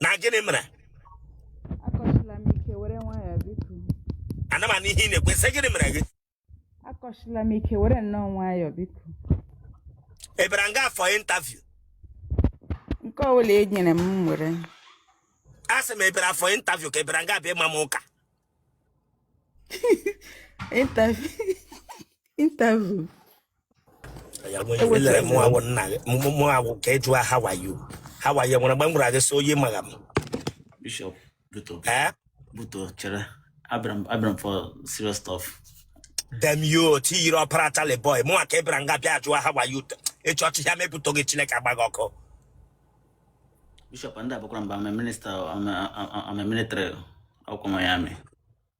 na gịnị mere ana m anụ ihe ị na-ekwu sị gịnị mere gị akọchila m ike were nnọọ nwayọọ biko abịara m nga for interview nke ọbụla e nyere m m were a sị m ị bịara for interview ka ị bịara nga abịa ịma m ụka interview mụ wụ nna gị mụnwa ka ị jụọ how are you how are you nwere mgbe m gwara gị sị oyi maga m Bishop, butuo, eh? butuo, chere, abịara m, abịara m for serious stuff. dem yo ti yiri ọpara tali boy mụnwa ka ị bịara nga bịa jụọ how are you ị chịa ọchị ya m ebutuo gị chineke agba gị ọkụ Bishop, and Abakuram, I'm a minister, I'm a, I'm a military, Oko Miami.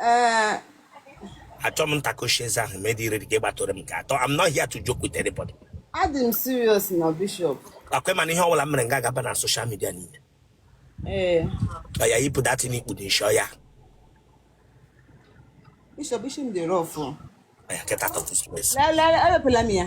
Eh, achọ m ntakoshi eze ahụ medi ire dịka ịgbatụrụ m nke atọ I'm not here to joke with anybody adị m serious na bishop ọ kwa ị ma na ihe ọbụla m mere nga gaba na social media niile ee ọya yipụ that thing i kpudo isi ọya bishop isi m dị rough ọya kịta tọtụ space lelele ewepụla m ya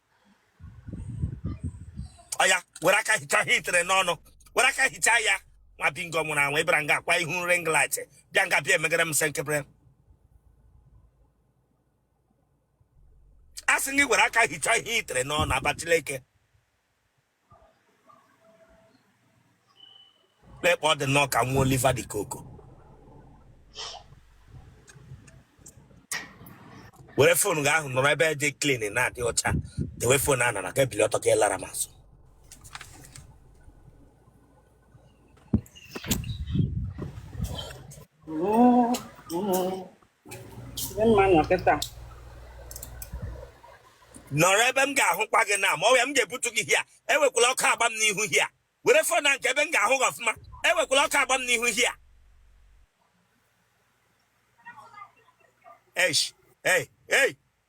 ọya were aka hichaa ihe i tere n'ọnụ were aka hichaa ya nwa bingo nwụrụ anwụ ị bịara nga akwa ihu ring light bịa nga bịa emegara m senkepere a sị gị were aka hichaa ihe i tere n'ọnụ aba chineke lekpa ọ dị nnọọ ka nwa Oliver De Coque were phone gị ahụ nọrọ ebe dị clean na-adị ọcha dewe phone a nara ka ebili ọtọ ka ịlara m azụ Dị mma nọ kịta. nọrọ ebe m ga-ahụkwa gị na ma ọ ya m ga-ebutu gị here ewekwala ọkụ agba m n'ihu here were phone nọrọ ebe m ga-ahụ gị ọfụma ewekwala ọkụ agba m n'ihu here eish ei ei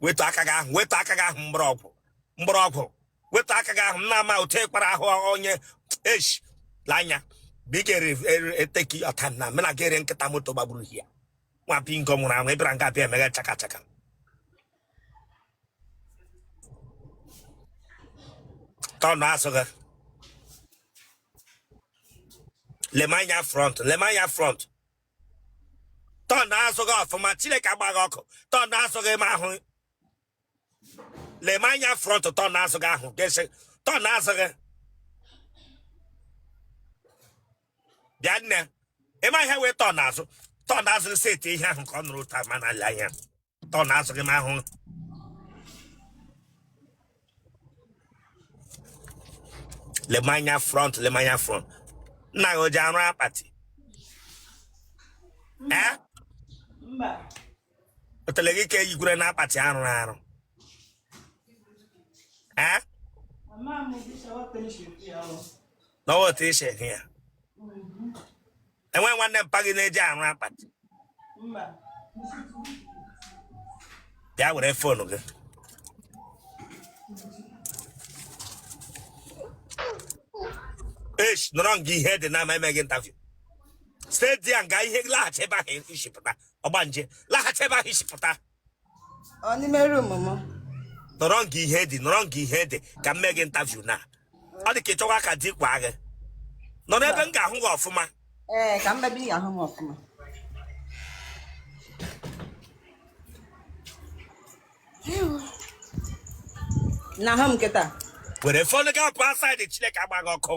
wetu aka gị ahụ wetu aka gị ahụ mgbọrọgwụ mgbọrọgwụ wetu aka gị ahụ m na-ama otu ị kpara ahụ onye eshi lanya biko take your time mena gị yiri nkịta moto gbagburu ya nwa bingo nwụrụ anwụ ị bịara nga abịa emega chaka chaka turn azụ gị lema anya front lema anya front turn azụ gị ọfụma chineke agba gị ọkụ turn azụ gị ma ahụ lema anya front turn azụ gị ahụ gesi turn azụ gị bịa nne ị ma ihe wụ turn azụ turn azụ set ihe ahụ ka ọ nọrọ ọtọ ma na-ale anya turn azụ gị m ahụ lema anya front lema anya front nna gị o ji arụ akpati ee Mba. otele gị ka eyikwere na akpati a rụrụ arụ ee Mama m dị shawa penship ya ọ. n'ọwa otu isi ehi ya enweghị nwanne mpa gị na-eji arụ akpati bịa were phone gị esh nọrọ nga ihe dị ma m mee gị interview stedi ya nga ihe laghachi ebe ahụ i si pụta ọgbanje laghachi ebe ahụ i si pụta Ọ n'ime room m. nọrọ nga ihe dị nọrọ nga ihe dị ka m mee gị interview na ọ dị ka ị chọwa ka di kwaa gị nọrọ ebe m ga-ahụ gị ọfụma Ee, ka m bịa ebe ị ahụ m ọfụma. Ewu. Na-ahụ m kịta. were phone gị apụ outside chineke agba gị ọkụ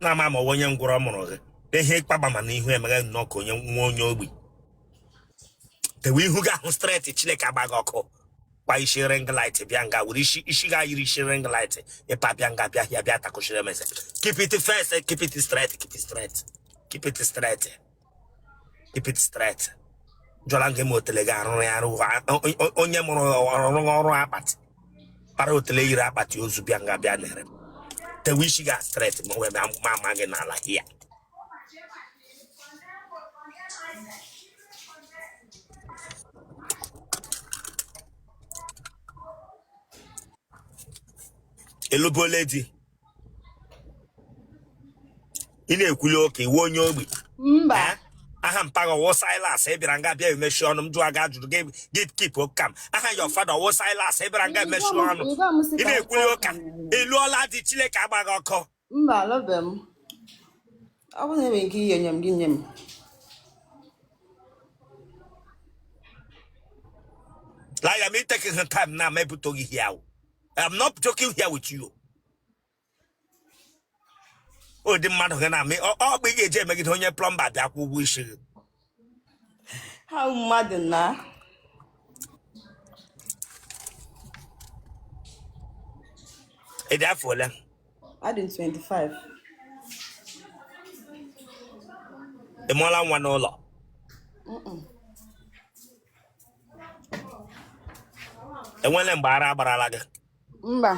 na-ama ma onye ngwụrọ mụrụ gị ihe ịkpagba ma na ihu emeghe nnọọ ka onye iwe onye ogbi tewe ihu gị ahụ straight chineke agba gị ọkụ gba isi ring light bịa nga were isi isi gị yiri isi ring light ị pa bịa nga bịa ya bịa takụchiri m eze keep the face keep it straight keep it straight keep it straight keep it straight ajụla m gị ma otele gị a rụrụ ya arụ ha- o- o- onye mụrụ ọrụ ọrụ akpati kpara otele yiri akpati ozu bịa nga bịa nere m. tewe isi gị straight ma wee ma ama gị n'ala here ị lụbela di ị na-ekwuli oke iwe onye ogbi mba Eh? aha mpa gị ọ wụ Silas ị bịara nga bịa emechi ọnụ m jụọ gị ajụjụ gị gị keep calm aha your father ọ wụ Silas ị bịara nga emechi ọnụ Ị gwa m sị ị ka na-ekwuli m ụka kọọ. ị lụọla di chineke agba gị ọkụ mba alụbe m ọ bụrụ na enwere ike inye nye m gị nye m laya m ị tekịghị time na ma ebutoghị ihe ahụ I'm not joking here with you. o dị mmadụ gị na-amị ọ ọ bụ ị ga-eji emegide onye plumber bịa kwụọ ụgwọ isi gị ha mmadụ na ị dị afọ ole adị m 25 ị mụọla nwa n'ụlọ enwele mgbe ara agbarala gị mba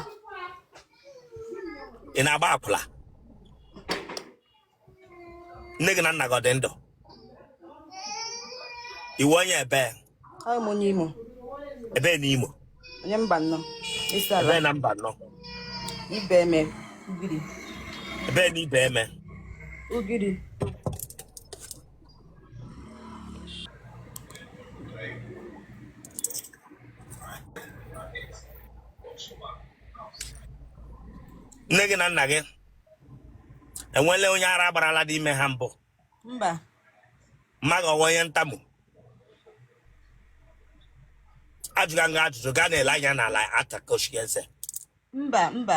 ị na-agba akwụla nne gị na nna gị ọ dị ndụ ị wụ onye ebe ọ m onye imo ebe na imo onye mbano isiala ebe na mbano ibeme ugiri ebe na ibeme ugiri nne gị na nna gị enwele onye ara agbarala dị ime ha mbụ mba mma gị ọ wụ onye ntamu ajụga gị ajụjụ gị ana-ele anya n'ala atakoshi eze mba mba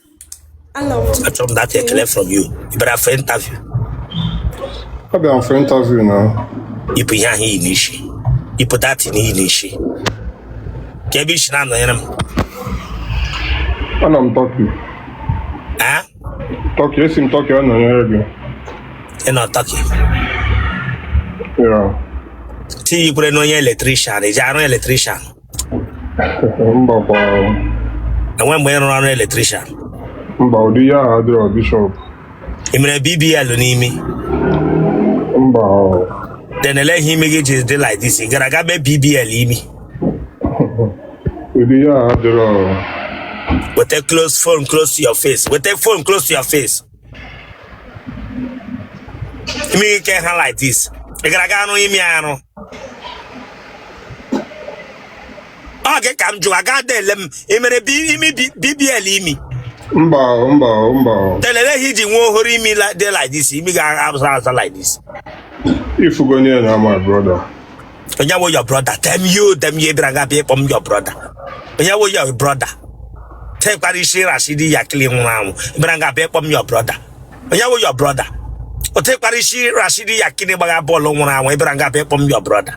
Achọrọ m that ekele from you. Ị bịara for interview. Ọ bịara for interview na. Yipụ ihe ahụ i yi n'isi. Yipụ that thing i yi n'isi. Kee ebe i si na-anọnyere m. Anọ m Turkey. Ah? Turkey, esi m Turkey anọnyere gị. Ị nọ Turkey? Yeah. Ti ikwere n'onye electrician, ị ji arụ electrician. mbakwa enwere mgbe ị rụrụ ọrụ electrician mba ụdị ya ahụ adịrọ bishop ị mere bbl n'imi mba then elee ihe imi gị ji dị like this ị gara aga mee bbl imi ụdị ya ahụ adịrọ weta close phone close to your face weta phone close to your face imi gị aha like this ị gara aga rụọ imi arụ ọ gị ka m jụrụ aga dele m ị mere bi- imi bi- bbl imi mba o, mba o, mba o. telele ihe i ji nwee ohoro imi la- dị like this imi ga-abụsa azụ like this ị fugo niile na my brother onye wụ your brother damn you damn you bịara ga bịa ịkpọ m your brother onye wụ your brother tekwara isi rashidi yekini nwụrụ anwụ bịara ga bịa ịkpọ m your brother onye wụ your brother o tekwara isi rashidi yekini gbagha bọọlụ nwụrụ anwụ ị bịara ga bịa ịkpọ m your brother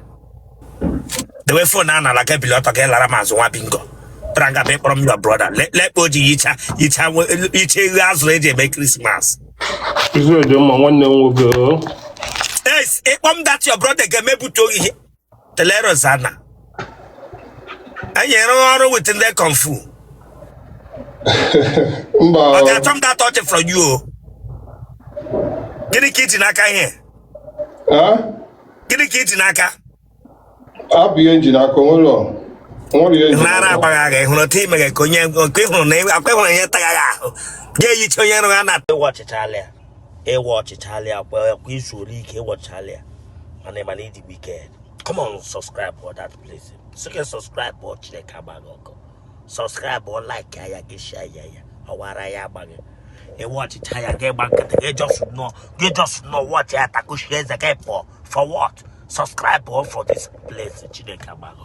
dewe phone a n'ala gị ebili ọtọ gị alara m azụ nwa bingo bịara ga bịa ịkpọrọ m your brother lekpo ji yicha yicha nwe- yicha eghu a zụrụ e ji eme christmas Izu dị mma nwanne m nwoke o. Yes, ịkpọ m that your brother ga-emebute oyi ihe. Telero Zana. Anyị rụrụ ọrụ with ndị kung fu. mba o. Achọrọ m that ọchị from you o. Gịnị ka i ji n'aka ihe? Ah? Gịnị ka iji n'aka? abụ ihe njiri aka onwere nara agbaghị agha ịhụrụ otu imeghe ka onye nke ịhụrụ na akwa ịhụrụ ihe tagaghị ahụ ga-eyicha onye nrụ ya na ị watchịchaala ya ị watchịchaala ya kwa izu ole ike ị watchịchaala ya mana ịma na idigbo ike come on subscribe for that place sị ka subscribe kpọọ chineke agba gị ọkụ subscribe or like ya gị share ya ya ọwara ya agbaghị ị watchịcha ya gị gba nkịtị gị just nọ gị just nọ watchie ya takuchie eze gị pụọ for what subscribe for this place chineke agba gị